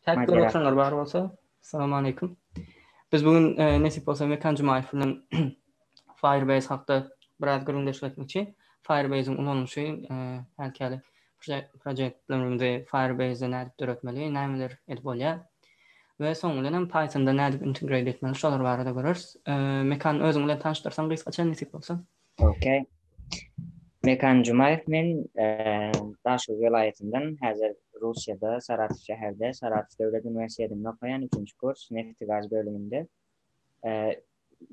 Täk bir oturanlar bar bolsa, salam aleýkum. Biz bu gün e, nesip bolsa Mekan Jumaýew bilen Firebase hakda biraz gürrüňdeşlik etmekçi. Firebase-iň ulanylyşy e, häzirki proýektlerimizi Firebase-de nädip döretmeli, nämeler edip bolýar? We soň bilen hem Python-da nädip integrate etmeli, şolar barada göreris. E, Mekan özüň bilen tanyşdyrsaň gysgaça nesip bolsa. Ok. Mekan Jumaýew men Daşoguz welaýatyndan häzir Russiýada Saratow şäherde Saratow döwlet uniwersitetinde okaýan üçünji kurs neft i gaz bölüminde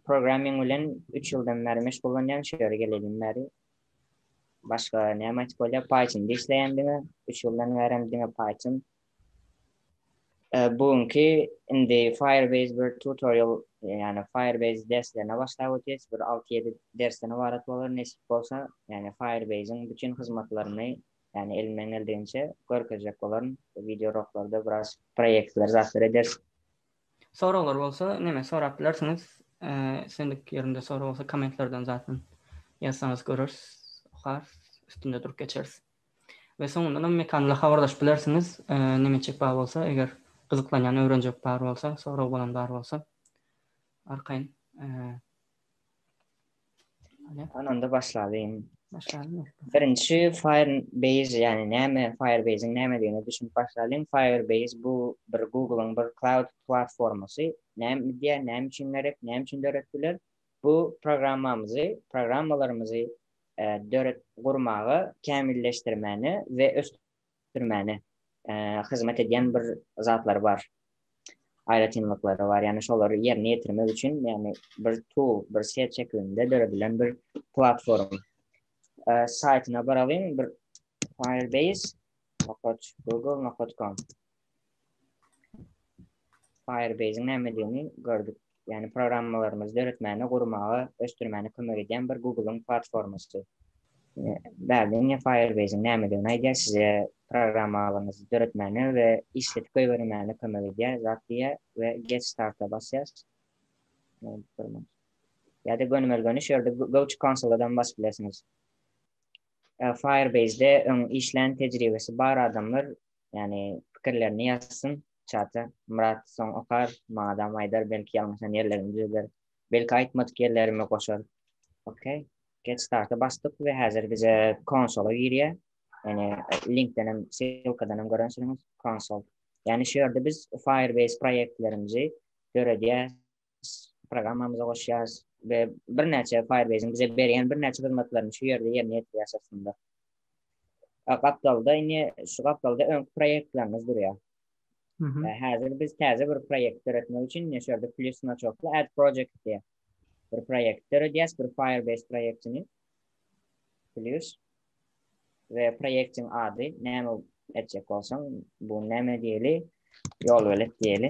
programming bilen üç ýyldan bäri meşgullanýan şu ýere gelelin bäri başga näme aýtyp bolýar python işleýän diňe üç ýyldan bärem diňe python Bu günki indi Firebase bir tutorial ýagny Firebase derslerine başlap ötýäs. Bir alty-ýedi dersden ybarat bolar nesip bolsa. Ýagny Firebase-iň bütin hyzmatlaryny ýagny elimden geldigiňçe görkezjek bolaryn. Wideoroklarda biraz proýektler zatlar ederis. Soraglar bolsa neme sorap bilersiňiz. Islendik ýerinde sorag bolsa kommentlerden zatyn ýazsaňyz göreris, okarys, üstünde durup geçeris. We soňundanam mekanla habarlaşyp bilersiňiz neme etjek bar bolsa eger gyzyklanýan öwrenjek bar bolsa sorag bolan bar bolsa arkaýyn Ananda başlalyň. Başlalyň. Birinji Firebase ýagny näme Firebase-iň nämedigine düşünip başlalyň. Firebase bu bir Google-yň bir cloud platformasy. Näme diýýär, näme üçin gerek, näme üçin döretdiler? Bu programmamyzy, programmalarymyzy döret gurmaga, kämilleşdirmäne we ösdürmäne hyzmat edýän bir zatlary bar, aýratynlyklary bar, ýagny şolary ýerine ýetirmek üçin, ýagny bir tool, bir set şekilinde döredilen bir platform. Saýtyna baralyň, bir firebase. Nokat google nokat com. Firebase-iň nämedigini gördük. Ýagny programmalarymyzy döretmäne, gurmaga, ösdürmäne kömek edýän bir Google-yň platformasy. Bärde indi Firebase-iň nämedigini aýdýar, size programmalaryňyzy döretmäne we işledip goýbermäne kömek edýär zat diýýär we Get Start-a basýas. Ýa-da gönümel-göni şu ýerde Go to Console-a-dan basyp bilersiňiz. Firebase-de öň işlän tejribesi bar adamlar Ýani pikirlerini ýazsyn çata Myrat soň okar maňadam aýdar belki ýalňyşan ýerlerimi düzeder belki aýtmadyk ýerlerimi goşar ok get starta basdyk we häzir bize konsola girýär ýani linkdenem silkadanam görensiňiz konsol ýani şu ýerde biz firebase proýektlerimizi döredýäs programmamyza goşýarys we birnäçe Firebase-iň bize berýän birnäçe hyzmatlaryny şu ýerde ýerine ýetirýäris aslynda. Gapdalda indi şu gapdalda öňki proýektlerimiz durýar. Häzir biz täze bir proýekt döretmek üçin şu ýerde plus znaçokly add project diýýär. Bir proýekt döredýäris, bir Firebase proýektini. Plus we proýektiň ady näme etjek bolsaň, bu näme diýeli? Ýol belet diýeli.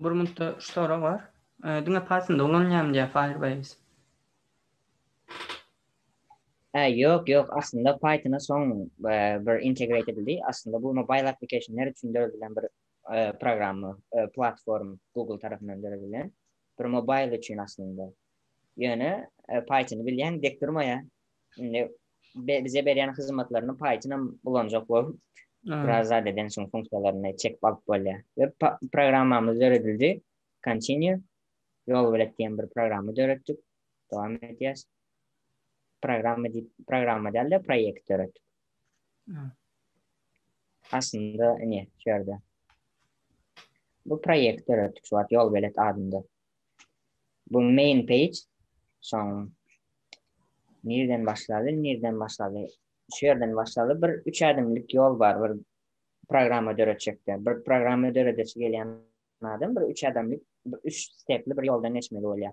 Bir mintde şu sorag bar. Diňe Pythonda ulanylýarmy diýýär Firebase. Hä, ýok, ýok, aslynda Pythona soň bir integrate edildi. Aslynda bu mobile applicationlar üçin döredilen bir programma, platform Google tarapyndan döredilen. Bir mobile üçin aslynda. Ýöne Pythony bilýän dek durmaýar. Indi bize berýän hyzmatlaryny paýtynam ulanjak bolup, biraz zat eden şuň funksiýalaryny çekip alyp bolýar. We programmamyz döredildi. Continue. Ýol bilet diýen bir programma döretdik. Dowam edýäs. Programma diýip, programma däl-de, proýekt döretdik. Aslynda, ine, şu ýerde. Bu proýekt döretdik, şu wagt ýol bilet adynda. Bu main page. Soň nirden başlady, nirden başlady. Şu ýerden başlady. Bir üç ädimlik ýol bar bir programma döretjekde. Bir programma döredesi gelýän adam bir üç ädimlik, üç stepli bir ýoldan geçmeli bolýar.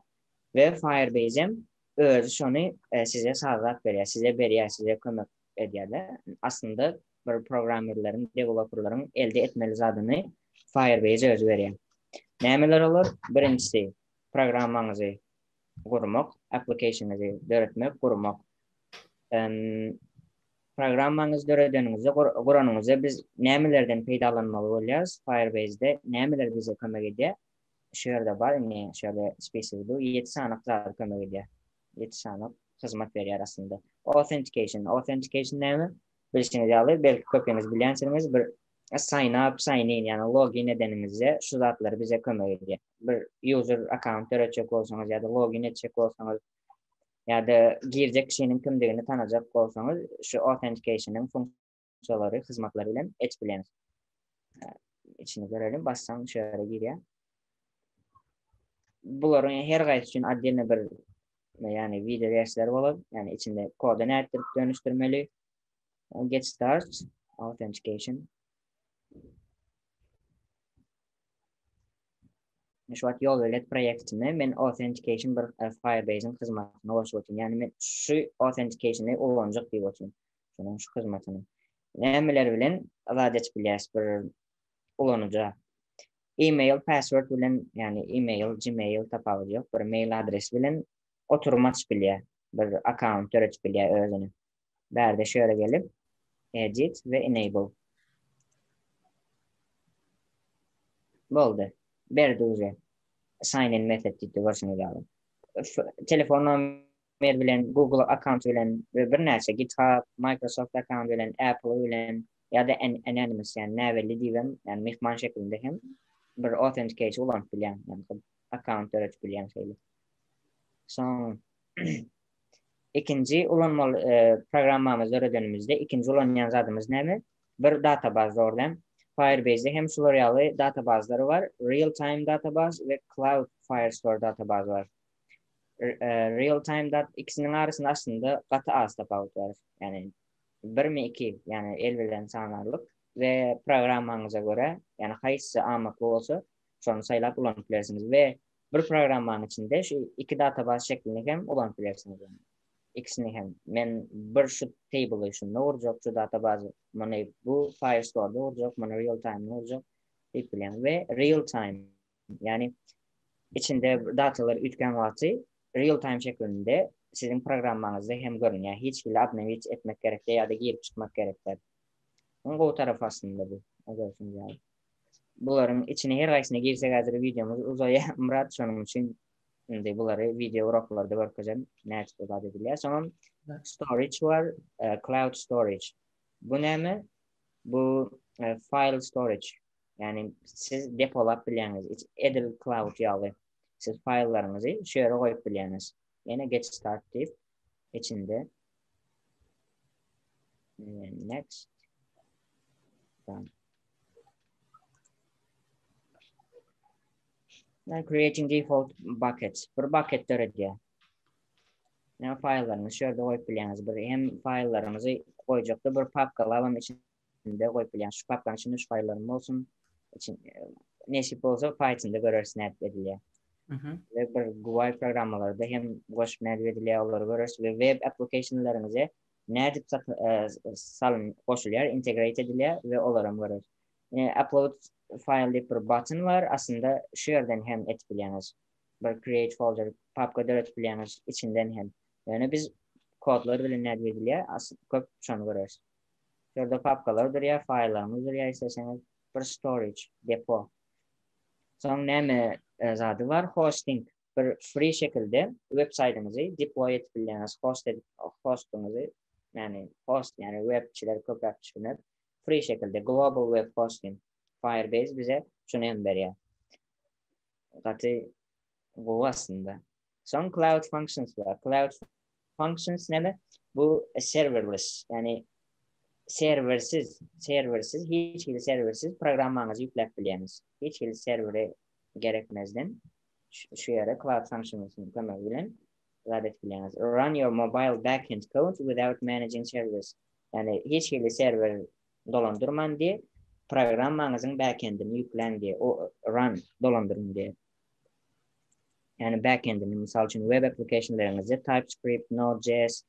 We Firebase hem özi şony e, size sazlap berýär, size berýär, size kömek edýärde. Aslynda bir programmerleriň, deweloperleriň elde etmeli zadyny Firebase özi berýär. Nämeler olar? Birinjisi programmaňyzy gurmak, applicationyňyzy döretmek, gurmak. Programmaňyzy döredeniňizde, guranyňyzda biz nämelerden peýdalanmaly bolýarys? Firebase-de nämeler bize kömek edýär? Şu ýerde bar, indi şu ýerde spesigi dur, ýedi sany zat kömek edýär. ýetişanok hyzmat berýär aslynda. Authentication, authentication näme? Bilşiňiz ýaly, belki köpiňiz bilýänsiňiz, bir sign up, sign in, ýagny login edeniňizde şu zatlar bize kömek edýär. Bir user account döretjek bolsaňyz ýa-da login etjek bolsaňyz ýa-da girjek kişiniň kimdigini tanajak bolsaňyz, şu authentication-yň funksiýalary, hyzmatlary bilen et bilen. Içini görelim, bassaň şu ýere girýär. Bularyň her gaýsy üçin отдельно bir ýagny video versiýalary bolar. Ýagny içinde koda nätdirip dönüşdirmeli. Get start authentication. Şu wagt ýol belet proýektinde men authentication bir e, Firebase-iň hyzmatyna goşup otyryn. Ýagny men şu authentication-i ulanjak diýip otyryn. şonuň şu hyzmatyny nämeler bilen ylaç edip bilýäris bir ulanyja e-mail password bilen ýagny e-mail gmail tapawudy ýok bir mail adres bilen oturum açyp bilýär bir akkaunt döredip bilýär özüne bärde şu ýere gelip edit we enable boldy berdi uze sign in method diýip görşüňiz ýaly telefon Mail bilen, Google akkaunty bilen we birnäçe GitHub, Microsoft akkaunty bilen, Apple bilen ýa-da anonymous ýagny näbelli diýibem ýagny myhman şeklinde hem bir authenticator ulanyp bilýäň ýagny akkaunt döredip bilýäň şeýle. Soň ikinji ulanmaly programmamyzy döredenimizde ikinji ulanýan zadymyz näme? Bir databaz dogrudan. Firebase-de hem şular ýaly databazlary bar, Real Time databaz we Cloud Firestore databazy bar. real time dat ikisiniň arasynda aslynda gaty az tapawut bar. Ýani birmi iki, ýani el bilen sanarlyk we programmaňyza görä, ýani haýsy amatly bolsa, şony saýlap ulanyp bilersiňiz we bir programmanyň içinde şu iki databaz şeklini hem ulanyp bilersiňiz. Ikisini hem men bir şu table şunda urjak, şu databazy muny bu Firestore-da urjak, muny real time-da urjak diýip bilen we real time Ýagny içinde datalar üýtgän wagty real time şeklinde siziň programmaňyzda hem görünýär. Hiç hili obnowit etmek gerek däl ýa-da girip çykmak gerek däl. Iň gowy tarapy aslynda bu. Görşüňiz ýaly. Bularyň içine her haýsyna girsek häzir wideomyz uzaýar. Myrat şonuň üçin indi bulary wideo uraklarda görkezem. Nädip bu zat edilýär. Soňam storage bar, e, cloud storage. Bu näme? Bu e, file storage. Yani siz depolap bilýäňiz. Edil cloud ýaly. Siz faýllaryňyzy şu ýere goýup bilýäňiz. Ýene get start diýip içinde next done. Now creating default bucket. Bir bucket döredýär. Yani faýllaryňyzy şu ýerde goýup bilýäňiz. Bir hem faýllaryňyzy goýjakda bir papka alam içinde Üstünde goýup bilýän şu patlanyş üçin üç gaýylaryň bolsun. Üçin nesip bolsa Pythonda göreris nädip edilýär. Ve bir GUI programmalarda hem goşup nädip edilýär olary göreris ve web applicationlaryňyza nädip salyn goşulýar integrate edilýär ve olaram göreris. Upload file diýip bir button bar aslynda şu ýerden hem etip bilýäňiz. Bir create folder papka döretip bilýäňiz içinden hem. Ýöne biz kodlar bilen nädip edilýär köp şony göreris. Şurada papkalar durýar, faýllarymyz durýar, isleseňiz bir storage, depo. Soň näme zady bar? Hosting. Bir free şekilde web saýdyňyzy deploy edip bilýäňiz, host edip, hostuňyzy, ýagny host, ýagny webçiler köpräk düşüner. Free şekilde global web hosting. Firebase bize şuny hem berýär. Gaty gowy aslynda. Soň cloud functions bar. Cloud functions näme? Bu serverless, ýagny serwersiz, serwersiz, hiç hili serwersiz programmaňyzy ýükläp bilýäňiz. Hiç hili serwere gerekmezden şu ýere cloud functions-yň kömegi bilen zat edip bilýäňiz. Run your mobile backend code without managing servers. Ýagny hiç hili serwer dolandyrman diýip, programmaňyzyň backendini ýükläň diýip, o run dolandyryň diýip. Yani backendini, mysal üçin web applicationleriňizi TypeScript, Node.js,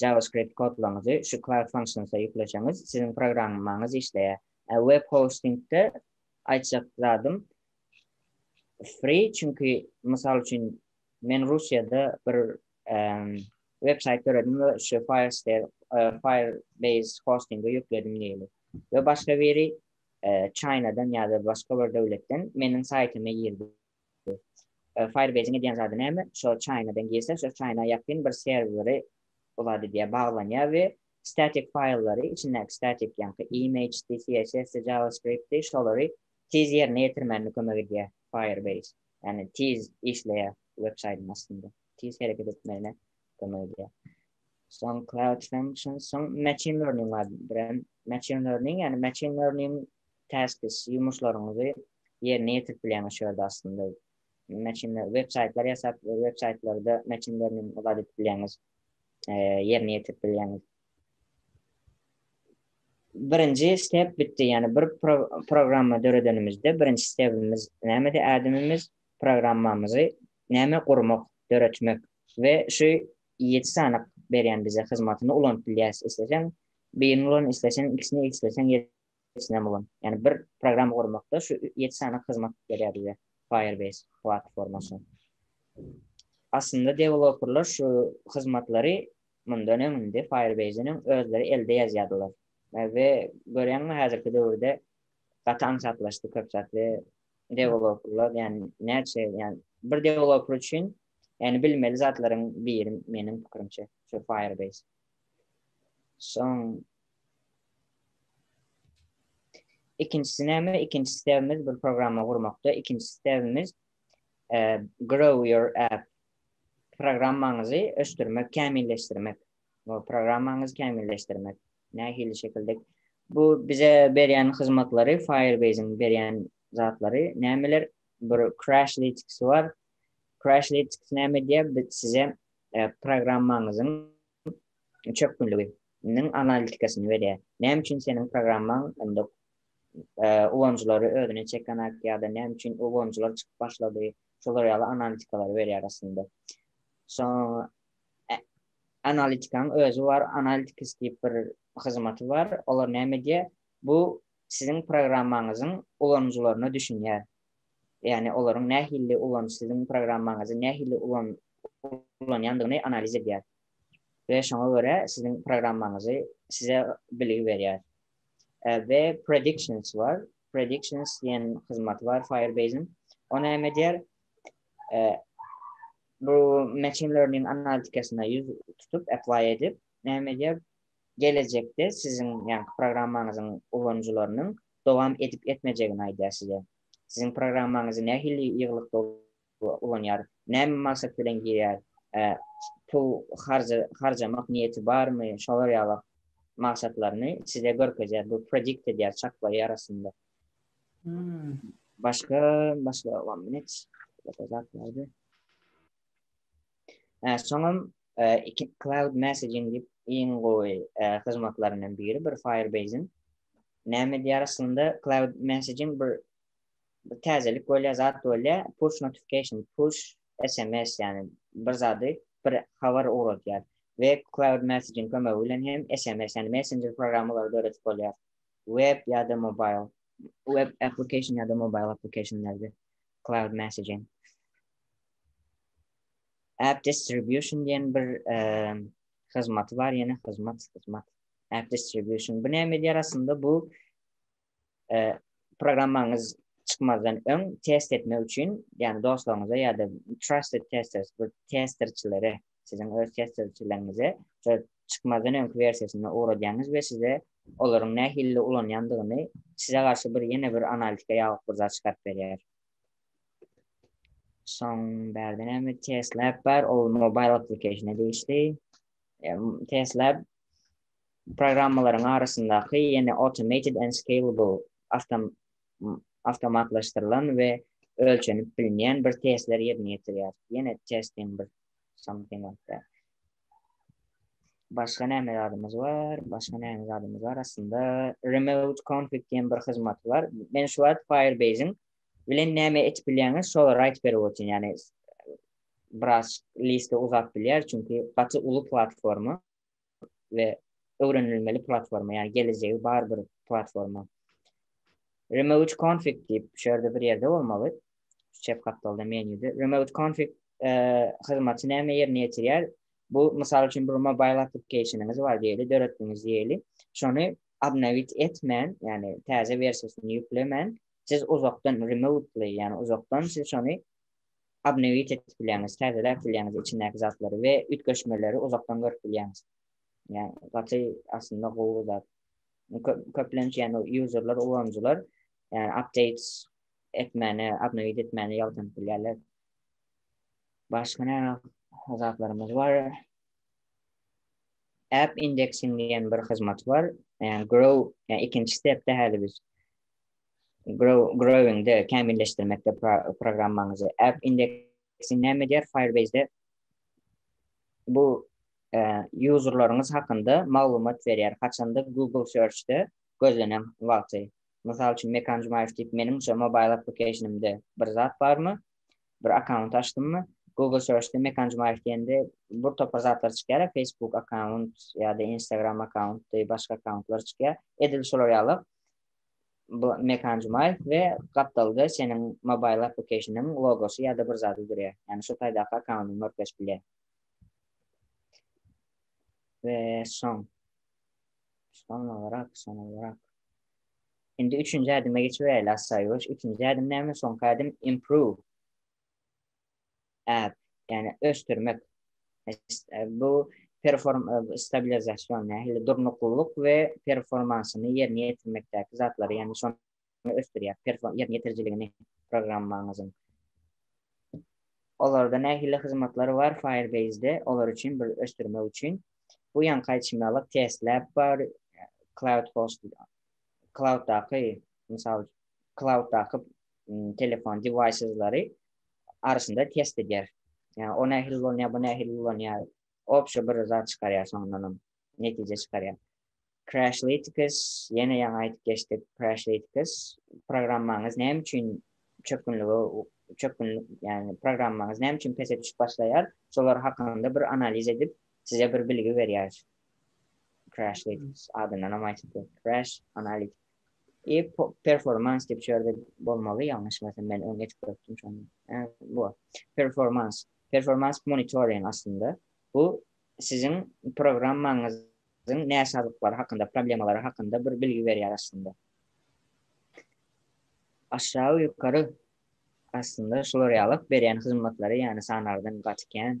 JavaScript kodlaryňyzy şu Cloud Functions'a ýükleseňiz, siziň programmaňyz işleýär. A web hostingde aýtjak zadym free, çünki mysal üçin men Russiýada bir web saýt döredim we şu Firebase hostingi ýükledim diýeli. We başga biri Çaýnadan ýa-da başga bir döwletden meniň saýtyma girdi. Firebase-iň edýän zady näme? Şo Çaýnadan girse, şo Çaýna ýakyn bir serweri bu zat edýär, baglanýar we statik faýllary, içindäki statik, ýaňky image-di, CSS-di, JavaScript-di, şolary tiz ýerine ýetirmäne kömek edýär Firebase. Ýagny tiz işleýär websaýdyň astynda. tiz hereket etmegine kömek edýär. Soň cloud function, soň machine learning bar. Bilen machine learning, yani machine learning tasks, yumuşlarynızı yerine yetirip bilen şu yerde aslında. Machine learning, web saytlar yasap, web saytlarda machine learning ibadet edip bileňiz, e, yerine yetirip bileňiz. Birinci step bitti, yani bir pro programma döredenimizde birinci stepimiz nämedi? Adamimiz programmamyzy näme gurmak, döretmek we şu ýedi sanyk berýän bize hyzmatyny ulanyp bilýäris, isleseň birini ulan, isleseň ikisini, isleseň ýedisinem ulan. Ýagny bir programma gurmakda şu ýedi sanyk hyzmat berýär bize Firebase platformasy. Aslynda dewloperler şu hyzmatlary mundan öň indi Firebase-den öň özleri elde ýazýardylar we görýäňmi häzirki döwürde gaty aňsatlaşdy köp zat we Deweloperlar ýa näçe ýa bir deweloper üçin ýa bilmeli zatlaryň biri meniň pikirimçe şu Firebase. Soň ikinjisi näme? Ikinji sebimiz bir programma gurmakda. Ikinji sebimiz e, grow your app programmaňyzy ösdürmek, kämilleşdirmek. programmaňyzy kämilleşdirmek, nähili şekilde bu bize berýän hyzmatlary, Firebase-iň berýän zatlary nämeler? Bir Crashlytics bar. Crashlytics näme diýýär? Biz size e, programmaňyzyň çökgünliginiň analitikasyny berýär. Näme üçin seniň programmaň indi e, ulanyjylary özüne çekenak ýa-da näme üçin ulanyjylar çykyp başlady? Şolar ýaly analitikalaryberýär aslynda. Soň analitikanyň özi bar, analytics diýip bir hyzmaty bar. Olar näme edýär? Bu siziň programmaňyzyň ulanyjylaryna düşünýär. Ýagny olaryň nähili ulan siziň programmaňyzy nähili ulan ulanýandygyny analiz edýär. We şoňa görä siziň programmaňyzy size bilgi berýär. We predictions bar. Predictions diýen hyzmaty bar Firebase'iň. O näme edýär? bu machine learning analitikasyna ýüz tutup apply edip näme edýär gelejekde siziň ýa programmaňyzyň ulanyjylarynyň dowam edip etmejegini aýdýar size siziň programmaňyzy nähili ýygylykda ulanýar näme maksat bilen girýär pul harjamak niýeti barmy şolar ýaly maksatlaryny size görkezýär bu predict edýär çaklaýar aslynda Hmm. Başka, başka one minute. Başka zat nerede? Ee, soňam e, iki cloud messaging dip iň gowy e, hyzmatlaryndan biri bir Firebase'in. Näme diýär aslynda cloud messaging bir bir täzelik bolýar, zat bolýar, push notification, push SMS ýani bir zady bir habar ugradýar. Ve cloud messaging kömegi bilen hem SMS ýani messenger programmalary döredip bolýar. Web ýa-da mobil, web application ýa-da mobil applicationlerde cloud messaging. App distribution diýen bir hyzmaty bar, ýene hyzmat, hyzmat. App distribution. Bu näme edýär aslynda? Bu programmaňyz çykmazdan öň test etmek üçin, ýagny dostlaryňyza ýa-da trusted testers, bu testerçilere siziň öz test sözçüleriňize şu çykmazdan öňki wersiýasyna ugradýaňyz we size olaryň nähilli ulanýandygyny size garşy bir ýene bir analitika ýalyk bir zat çykaryp berýär. Soň bärde näme test lab bar, ol mobile application-e degişli. Test lab programmalaryň arasyndaky ýene automated and scalable awtom awtomatlaşdyrylan we ölçenip bilinýän bir testler ýerine ýetirýär. Ýene testiň bir something like that. Başga näme zadymyz bar? Başga näme zadymyz bar? Aslynda remote config diýen bir hyzmat bar. Men şu wagt Firebase-iň bilen näme etip bilýäňiz, şolar aýdyp berip otyryn. Ýani biraz liste uzap bilýär, çünki gaty uly platforma. we öwrenilmeli platforma, ýagny gelejegi bar bir platforma. Remote config diýip, şu ýerde bir ýerde bolmaly. Şu çep gapdalda menýuda. Remote config e, hyzmaty näme ýerine ýetirýär? Bu, mysal üçin, bir mobile applicationyňyz bar diýeli, döretdiňiz diýeli. Şony obnowit etmän, ýagny täze wersiýasyny ýüklemän, siz uzakdan remotely, ýagny uzakdan siz şony Obnowit edip bilýäňiz, täzeläp bilýäňiz içindäki zatlary we üýtgeşmeleri uzakdan görüp bilýäňiz. Ýagny gaty aslynda gowy zat. Köplenç ýagny userler, ulanyjylar ýagny updates etmäni, obnowit etmäni ýalkanyp bilýärler. Başga näme zatlarymyz bar? App indexing diýen bir hyzmat bar. Ýagny grow, ýagny ikinji stepde häli biz. Grow, Growing'de kämilleşdirmekde pro, programmaňyzy. App indeksi näme diýer Firebase'de? Bu e, userlaryňyz hakynda maglumat berýär. Haçanda Google Search'de gözlenen wagty. Mysal üçin Mekan Jumaýew diýip meniň şu mobile application'ymda bir zat barmy? Bir akkaunt açdymmy? Google Search'de Mekan Jumaýew diýende bir topar zatlar çykýar, Facebook akkaunt ýa-da Instagram akkaunt, başga akkauntlar çykýar. Edil şolar ýaly Bu Mekan Jumaýew we gapdalda seniň Mobile Applicationyň logosy ýa-da bir zady durýar. Ýagny şu taýdaky akkauntyň örtleşip bilýär. We soň. Soň olarak, soň olarak. Indi üçünji ädime geçip biläýeli, Assaýuwaş. Üçünji ädim näme? Soňky ädim Improve. ýagny ösdürmek bu perform stabilizasion nähili durnuklylyk we performansyny ýerine ýetirmekdäki zatlary ýagny şo ösdürýär perform ýerine ýetirijiligini programmaňyzyň olarda nähili hyzmatlar bar firebase-de olar üçin bir ösdürmek üçin bu ýaňky aýtşymy alyp testlab bar cloud host clouddaky mysal clouddaky telefon deviceslary arasynda test edýär. Yani o nähili ulanýar, bu nähili ulanýar. Obşa bir zat çykarýar soňundanam netije çykarýar. Crashlytics, ýene ýaňy aýdyp geçdik, Crashlytics programmaňyz näme üçin çökgünlige çökgün yani programmaňyz näme üçin pese düşüp başlaýar, şolar hakynda bir analiz edip size bir bilgi berýär. Crashlytics adyndan hem aýdyp geçdik. Crash Analytics. E performans diýip şerde bolmaly, ýalňyşmasam men öň geçip görüpdim şony. E, bu performans, performans monitoring aslynda bu siziň programmaňyzyň näsazlyklary hakynda, problemalary hakynda bir bilgi berýär aslynda. Aşagy ýokary aslynda şular ýaly berýän hyzmatlary, ýagny sanardan gaty kän,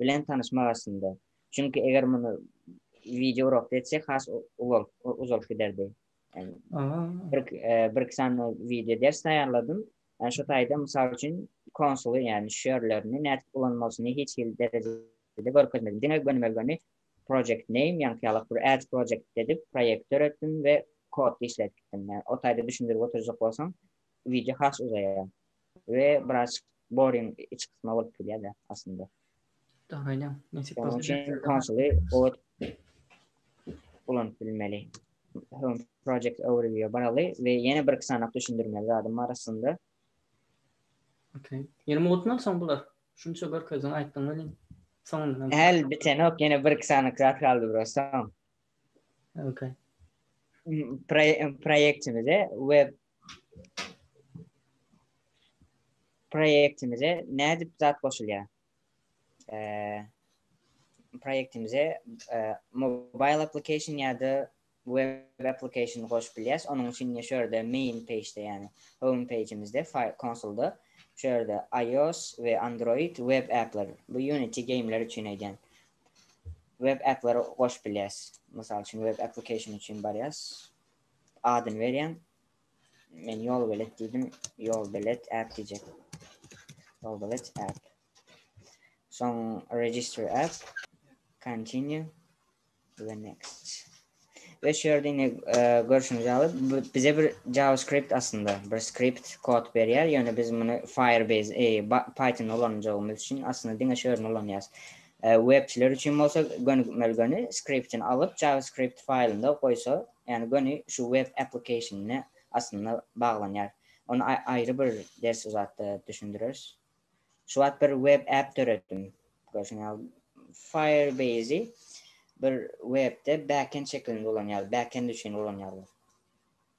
bilen tanyşmak aslynda. Çünki eger muny wideo urakda etsek has uwal uzalyp giderdi. Bir bir iki sany wideo ders taýýarladym. Yani şu taýda mysal üçin konsuly yani şu ýerlerini nädip ulanmalysyny hiç hili derejede görkezmedim. Diňe gönümel göni project name yani ýalyk bir add project edip proýekt döretdim we kod işletdim. Yani o taýda düşündirip oturjak bolsam Wideo has uzaýar we biraz boring iç kysma bolup durýar-da aslynda. Dogry aýdýaň. Nesip bolsa. Şonuň üçin konsoli ot ulanyp bilmeli. Home project overview baraly we ýene bir iki sanak düşündirmeli zadym bar aslynda. Okey. Ýene mutnal soň bular. Şunça görkezdiň, aýtdyň welin soňundan. Häl bitenok, ýene bir iki sanak zat galdy prosta. Okey. Proýektimize web Proýektimize nädip zat goşulýar? Eee proýektimize eee mobile application ýa-da web application goşup bilýäs. Onuň üçin indi şu ýerde main page-de ýagny home page-imizde file konsolda şu ýerde iOS we Android web appler bu Unity gameler üçin aýdýan. Web appleri goşup bilýäs. Mysal üçin web application üçin barýas. adyny berýän. Men ýol belet diýdim. Ýol belet app diýjek. Ýol belet app. Soň register app. Continue. The next. Ve şu yerde yine e, görüşünüz alıp bize bir JavaScript aslında bir script kod berýär. Yani biz bunu Firebase, e, Python ulanacağımız için aslında dine şu yerden ulanýarys. Webçiler üçin bolsa gönükmeli göni skriptini alyp JavaScript faýlynda goýsa, ýagny göni şu web application-ne aslynda baglanýar. Ony aýry bir ders uzatda düşündireris. Şu wagt bir web app döretdim. Görşüň ýaly Firebase-i bir webde backend şekilinde ulanýarlar, backend üçin ulanýarlar.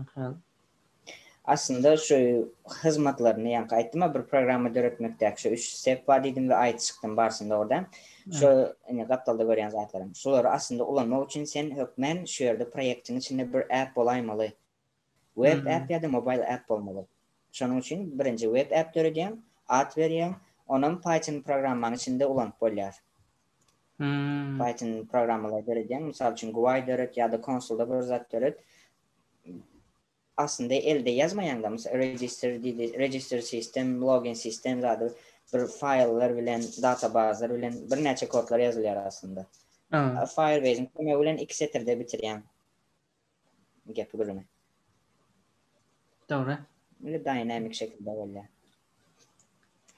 Aha. Aslynda şu hyzmatlaryny ýaňky aýtdym-a bir programma döretmekdäki şu üç step bar diýdim we aýdyşykdan barşyny dogrudan. Şu indi gapdalda görýän zatlarym. Şulary aslynda ulanmak üçin sen hökmän şu ýerde proýektiň içinde bir app bolaýmaly. Web app ýa-da mobile app bolmaly. Şonuň üçin birinji web app döredýäň, at berýäň, onam Python programmanyň içinde ulanyp bolýar. Hmm. Python programmalar döredýän, mysal üçin GUI döret ýa-da konsolda bir zat döret. Aslynda elde ýazmaýaňda, mysal register diýdi, register sistem, login sistem zady bir faýllar bilen, databazlar bilen birnäçe kodlar ýazylýar aslynda. Firebase-iň kömegi bilen iki setirde bitirýäň. Gepi gürrüňi. Dogry. Indi dynamic şekilde bolýar.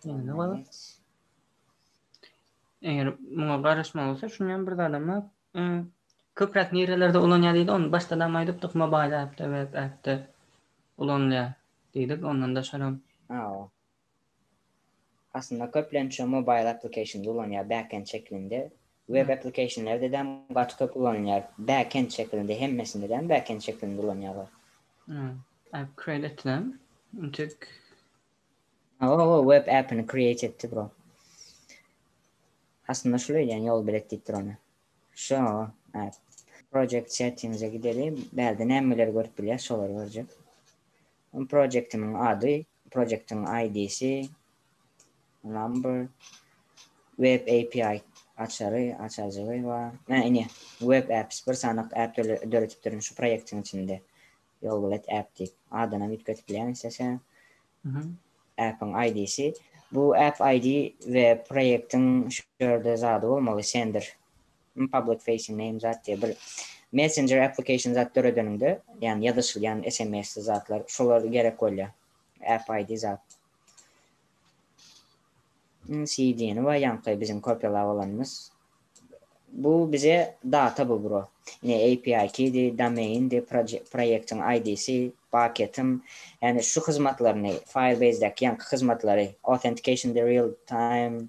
Indi bolup. Eger muňa garaşma bolsa, şuny hem bir zada mı? Köpräk nirelerde ulanýar diýdi, ony başda-da hem aýdypdyk, mobile app-de, web app-de ulanylýar diýdik, ondan daşaram. Hawa. Aslynda köplenç mobile applications ulanýar backend şeklinde. Web applicationlerde däm gaty köp ulanylýar. Backend şeklinde hemmesinde däm backend şeklinde ulanýarlar. App create etdim. Intik. Oho, web appini create etdi bro. Aslynda şul öýdýän ýol bilet diýip dur ony. Şo, app. Project settings'e gideli. Bärde nämeleri görüp bilýär, şolary görjek. Projektimiň ady Projektiň ID-si, number, web API açary, açajygy, bar. Hä, ine, web apps, bir sanak app döredipdirin şu projektiň içinde. Ýolbilet app diýip, adynam üýtgedip bilýäň islese. Appiň ID-si. Bu app ID we projektiň şu ýerde zady bolmaly, sender. Him public facing name zat diýýär bir messenger application zat döredeniňde ýagny ýazyşylýan sms zatlar şolar gerek bolýar app id zat cdni we ýaňky biziň kopýalap alanymyz bu bize data bu bro ine api kidi domaindi proýektiň idsi paketim ýagny şu hyzmatlaryny firebase däki ýaňky hyzmatlary authentication the real time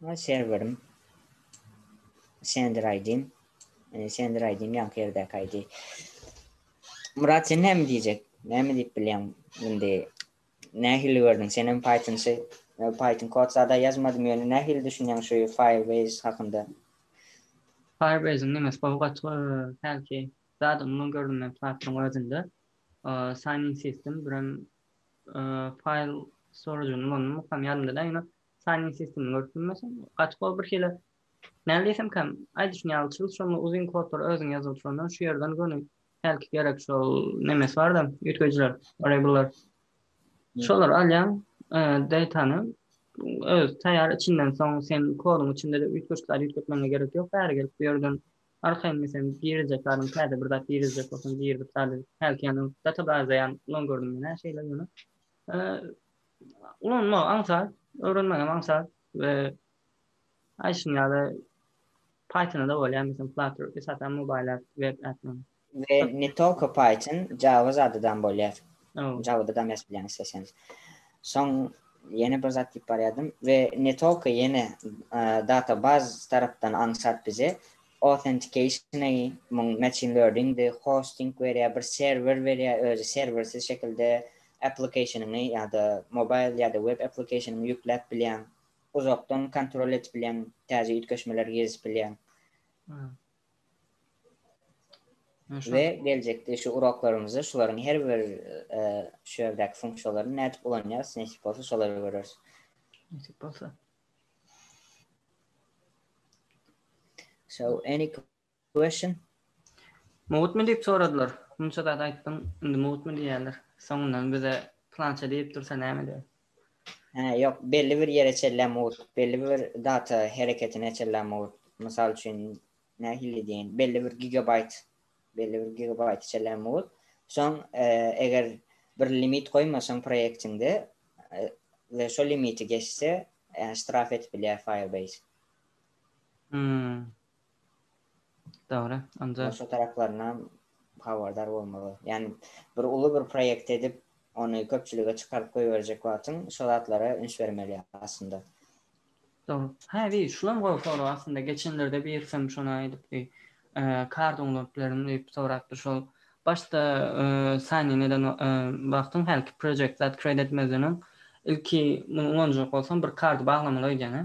Maý serwerim. Sender aýdym. Ene sender aýdym ýaňky ýerdäki aýdy. Murat sen näme diýjek? Näme diýip bilýäň? Indi nähili gördüň? Sen hem Python-çy. Python kod sada ýazmadym ýöne nähili düşünýäň şu Firebase hakynda? Firebase-iň nemesi gowy gaty hälki zady umuman görünmeýän platforma özünde. Sign-in system birem File storage-yny ulandymy mukam ýadymda däl ýöne signing system-yny görüp bilmeseň gaty gowy bir hili näme diýsemkäm aýdy şuny ýaly çyz şonda uzyn kodlary özüň ýazyl şondan şu ýerden göni hälki gerek şol nemesi barda üýtgeýjiler variableler şolary alýaň datany öz taýýar içinden soň sen koduň içinde-de üýtgeşikleri üýtgetmegiňe gerek ýok bäri gelip bu ýerden Arkaýynmys hem girjek zadym täze bir zat girizjek bolsam girdik zady hälki ýanym data baza ýan ulan gördüm men hä şeýle ýöne ulanmagy aňsat öwrenmek hem aňsat we aýşyň ýaly pythona da bolýar meselem flutter esasan mobile app web app We ne tolko Python, Java zadydam bolýar. Java-dam ýazyp bilýäň isleseň. Soň ýene bir zat diýip barýardym. We ne tolko ýene databaz tarapdan aňsat bize authentication-a muň machine learning-di, hosting berýär, bir serwer berýär, özi serwersiz şekilde application-yňy ýa-da mobile ýa-da web application-yňy ýükläp bilýäň. Uzakdan kontrol edip bilýäň, täze üýtgeşmeler girizip bilýäň. We geljekde şu uraklarymyzda şularyň her bir şu ýerdäki funksiýalaryny nädip ulanýarys, nesip bolsa şolary göreris. Nesip bolsa. So any question? Mowutmy diýip soradylar. Munça zat aýtdyň, indi mowutmy diýýärler. Soňundan bize plança diýip dursa näme edýär? Hä, ýok, belli bir ýere çenlä mugt, belli bir data hereketine çenlä mugt. Mysal üçin, nähili diýeýin, belli bir gigabaýt, belli bir gigabaýta çenlä mugt. Soň, eger bir limit goýmasaň proýektiňde we şo limiti geçse, ýa ştraf edip bilýär Firebase. Hmm. Dogry. Onda. Başga taraplarynam habardar bolmaly. Ýani bir uly bir proýekt edip, ony köpçülige çykaryp goýberjek wagtyň şo zatlara üns bermeli aslynda. Dogry. Hä bir şulam gowy sorag aslynda geçenlerde birsem şony aýdypdy. Kar download bilerin diýip sorapdy şol başda sign in eden wagtyň hälki project zat create etmezden öň ilki muny ulanjak bolsaň bir kardy baglamaly öýdýän hä?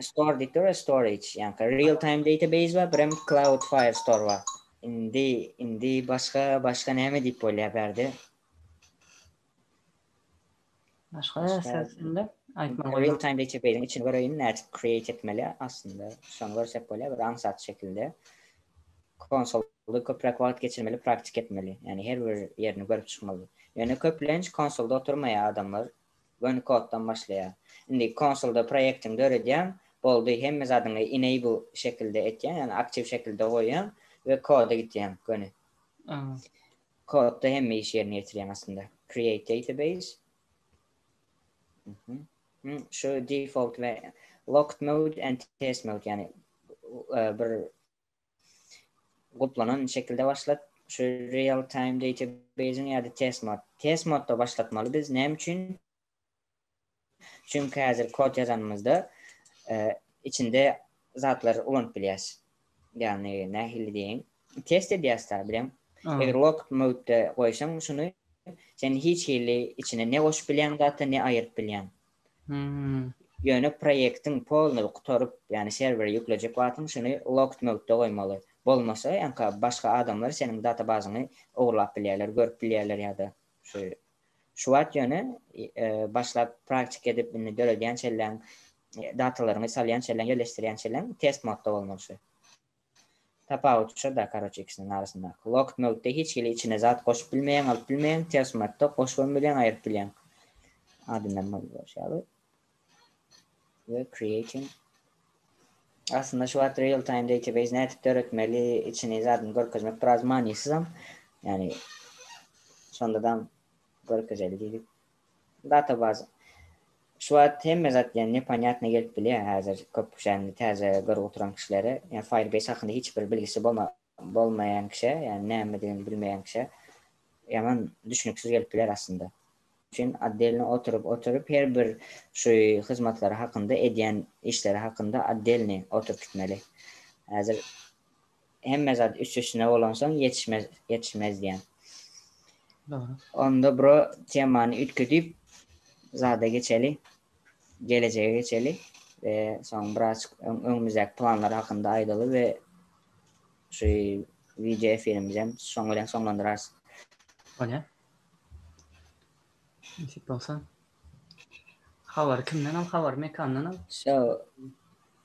Store diýip dur, storage, ýa-da real time database bar, birem cloud file store bar. Indi, indi başga, başga näme diýip bolýar bärde? Başga sözünde aýtmaly bolýar. Real time database-iň içini göreýin, nädip create etmeli aslynda. Şony görsek bolýar, bir aňsat şekilde. Konsolda köpräk wagt geçirmeli, praktik etmeli. Ýagny her bir ýerini görüp çykmaly. Ýöne köplenç konsolda oturmaýar adamlar, Göni koddan başlaýar. Indi konsolda proýektiňi döredýäň, boldy, hemme zadyňy enable şekilde etýäň, ýagny aktiw şekilde goýýaň we koda gitýäň göni. Kodda hemme işi ýerine ýetirýäň aslynda. Create database. Şu default we locked mode and test mode, ýagny bir Guplanan şekilde başlat. Şu real time database-iň ýa-da test mod. Test modda başlatmaly biz. Näme üçin? Çünki häzir kod ýazanymyzda içinde zatlar ulanyp bilýäs. Ýagny nähili diýeýin? Test edýäs da bileň. Eger log mode-de goýsaň şuny sen hiç hili içine ne goşup bilýäň zat-a, ne aýyryp bilýäň. Ýöne proýektiň polnyý gutaryp, ýagny serwere ýüklejek wagtyň şuny locked mode-da goýmaly. Bolmasa, ýa-ha başga adamlar seniň databazyňy ogurlap bilýärler, görüp bilýärler ýa-da şu şu wagt ýöne başlap praktika edip indi döredýänçellaň datalaryňy salýançellaň ýerleşdirýänçellaň test mode-da bolmaly şu. Tapawut şoda karoç ikisiniň arasyndaky wagt möwtde hiç hili içine zat goşup bilmeýäň alyp bilmeýäň ters matda goşubam bilýäň aýryp bilýäň adyndan boldy bolşy ýaly we creating aslynda şu wagt real time database nädip döretmeli içini zadyny görkezmek biraz manysyzam ýani şondadam görkezeli diýdik Databaza şu wagt hemme zat ýa neponýatnyý gelip bilýär häzir köp kişäni täze görüp oturan kişilere ýa Firebase hakynda hiç bir bilgisi bolmaýan kişä ýa nämedigini bilmeýän kişä ýaman düşnüksiz gelip biler aslynda. Üçin otdelny oturyp oturyp her bir şu hyzmatlary hakynda edýän işleri hakynda otdelny oturyp gitmeli häzir Hemme zat üst-üstüne bolansoň ýetişmez, ýetişmez diýýän. Dogry. Onda bro temany üýtgedip zada geçeli. Gelejege geçeli we soň biraz öňümizdäki planlar hakynda aýdaly we şu wideo efirimizi hem şoň bilen soňlandyrarys. Bolýar. Nesip bolsa. Habary kimden al, habary Mekandan al. Şo.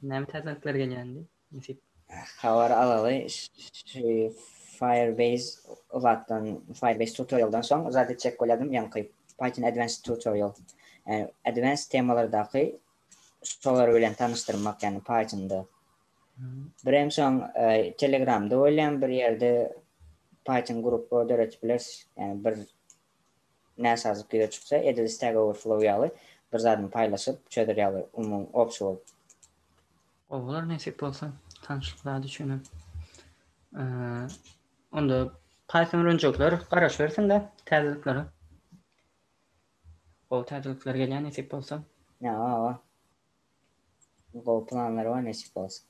Näme täzelikler gelýänini. Nesip. Habar alaly şu Firebase zatdan Firebase tutorialdan soň zat etjek bolýadym ýaňky Python Advanced tutorial ýa Advanced temalardaky şolar bilen tanyşdyrmak ýagny Pythonda. Birem soň Telegramda bolýan bir ýerde Python grupba döretip bileris ýagny bir näsazlyk ýüze çyksa edil Stack Overflow ýaly bir zadymy paýlaşyp çözer ýaly umumy obşy bolup. Gowy bolar nesip bolsa tanyşlyk zady üçinem. Onda Python öwrenjekler garaşybersinler täzeliklere. Gowy täzelikler gelýär nesip bolsa. Ýa, awa. Gowy planlar bar nesip bolsa.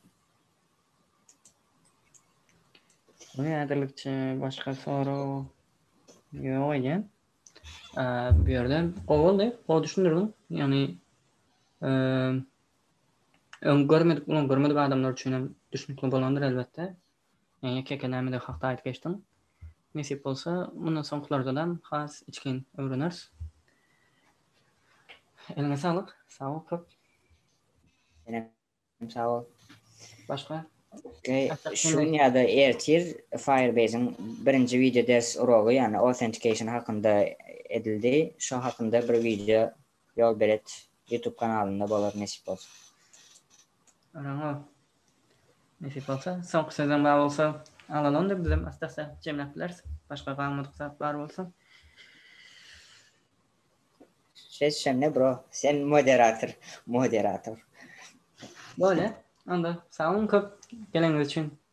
Muny ädirlikçe başga sorag ýok eýýäm. Bu ýerde gowy boldy, gowy düşündirdiň. Ýagny, Öň görmedik bolan görmedik adamlar üçin hem düşnükli bolandyr elbetde. Men ýeke-ýeke nämeleri hakda aýdyp geçdim. Nesip bolsa, mundan soňkylardalam has içgin öwreneris. Eliňe saglyk. Sag bol köp. Senem sag bol. Başga? Şu gün ýa-da ertir Firebase-iň birinji wideo ders urogy, ýagny authentication hakynda edildi. Şo hakynda bir wideo Ýol belet YouTube kanalynda bolar nesip bolsa. Garaňa nesip bolsa. Soňky sözleň bar bolsa alal onda bizem assdassa jemläp bileris. Başga galmadyk zat bar bolsa. Ses şende bro. Sen moderator. Moderator. Bolýa. Onda sagboluň köp geleniňiz üçin.